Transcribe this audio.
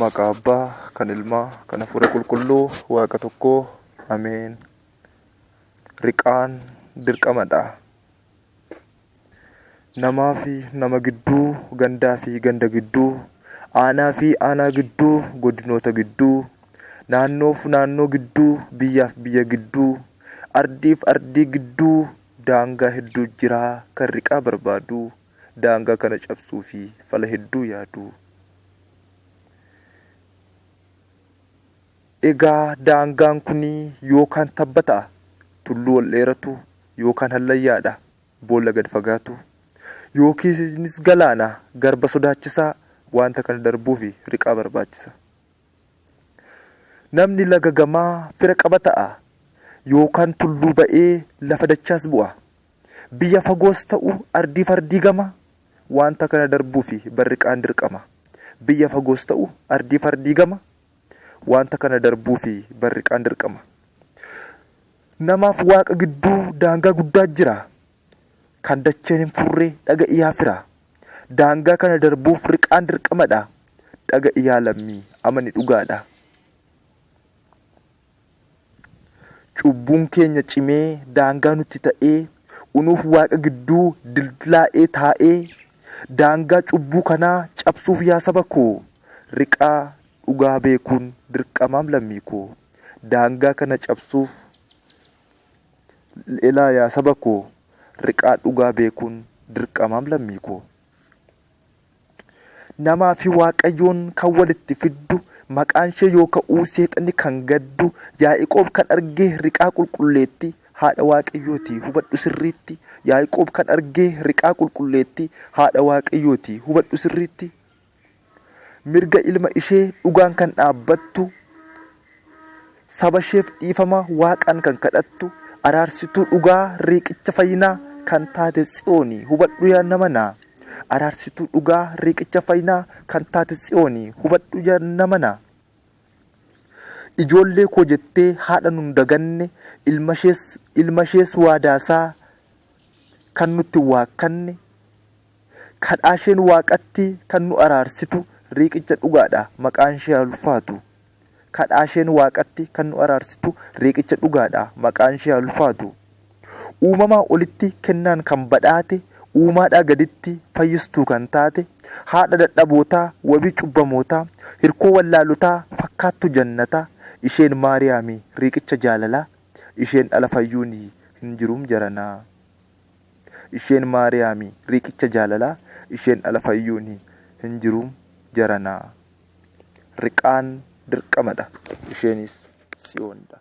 Maqaa Abbaa, kan Ilmaa, kan Hafuura Qulqulluu, Waaqa tokkoo. Ameen. Riqaan dirqamadha. Namaa fi nama gidduu, gandaa fi ganda gidduu, aanaa fi aanaa gidduu, godinoota gidduu, naannoof naannoo gidduu, biyyaaf biyya gidduu, ardiif ardii gidduu daangaa hedduu jira kan riqaa barbaadu. daangaa kana cabsuu fi fala hedduu yaadu. Egaa daangaan kun yookaan tabba ta'a, tulluu ol dheeratu, yookaan hallayyaadha, boolla gad fagaatu, yookiinis galaana, garba sodaachisaa, wanta kana darbuuf riqaa barbaachisa. Namni laga gamaa fira qaba ta'a, yookaan tulluu ba'ee lafa dachaas bu'a. Biyya fagoos ta'u ardii fardii gama wanta kana darbuufi barriqaan dirqama. Biyya fagoos ta'u ardii fardii gama wanta kana darbuufi barriqaan dirqama. Namaaf waaqa gidduu daangaa guddaa jira. Kan dacheen hin furre dhaga'i yaa firaa. Daangaa kana darbuuf riqaan dirqamadha. Dhaga'i yaa lammii amani dhugaadha. Cubbuun keenya cimee daangaa nutti ta'ee unuuf waaqa gidduu dildilaa'ee taa'ee daangaa cubbuu kanaa cabsuuf yaa saba koo riqaa dhugaa beekuun dirqamaam lammii koo daangaa kana cabsuuf Elaa yaa saba koo riqaa dhugaa beekuun dirqamaam lammii koo. Namaa fi Waaqayyoon kan walitti fiddu, maqaan ishee yoo ka'uu seexanni kan gaddu, Yaa'iqoob kan arge riqaa qulqulleetti, haadha Waaqayyooti hubadhu sirriitti, Yaa'iqoob kan arge riqaa qulqulleetti, haadha Waaqayyooti hubadhu sirriitti. Mirga ilma ishee dhugaan kan dhaabbattu, saba isheef dhiifama Waaqaan kan kadhattu, araarsituu dhugaa riiqicha fayyinaa kan taate Tsiyooni hubadhu yaa nama na. Araarsituu dhugaa riiqicha fayyinaa kan taate Tsiyooni hubadhu yaa nama na. Ijoollee koo jettee haadha nun daganne, ilmashees ilmashees waadaasaa kan nutti hin waakkanne, Kadhaasheen Waaqatti kan nu araarsitu Riiqicha dhugaadha, maqaanshee haa ulfaatu. Kadhaasheen Waaqatti kan nu araarsitu Riiqicha dhugaadha, maqaanshee haa ulfaatu. Uumamaa olitti kennaan kan badhaate, uumaadhaa gaditti fayyistuu kan taate, haadha dadhabootaa, wabii cubbamootaa, hirkoo wallaalotaa, fakkaattuu jannataa, isheen Maariyaami, Riiqicha jaalalaa, isheen ala fayyuuni hin jirum jaranaa. Isheen Maariyaami riqicha jaalalaa isheen ala fayyuuni hin jiru jaranaa. Riqaan dirqamadha isheenis Tsiyoonidha.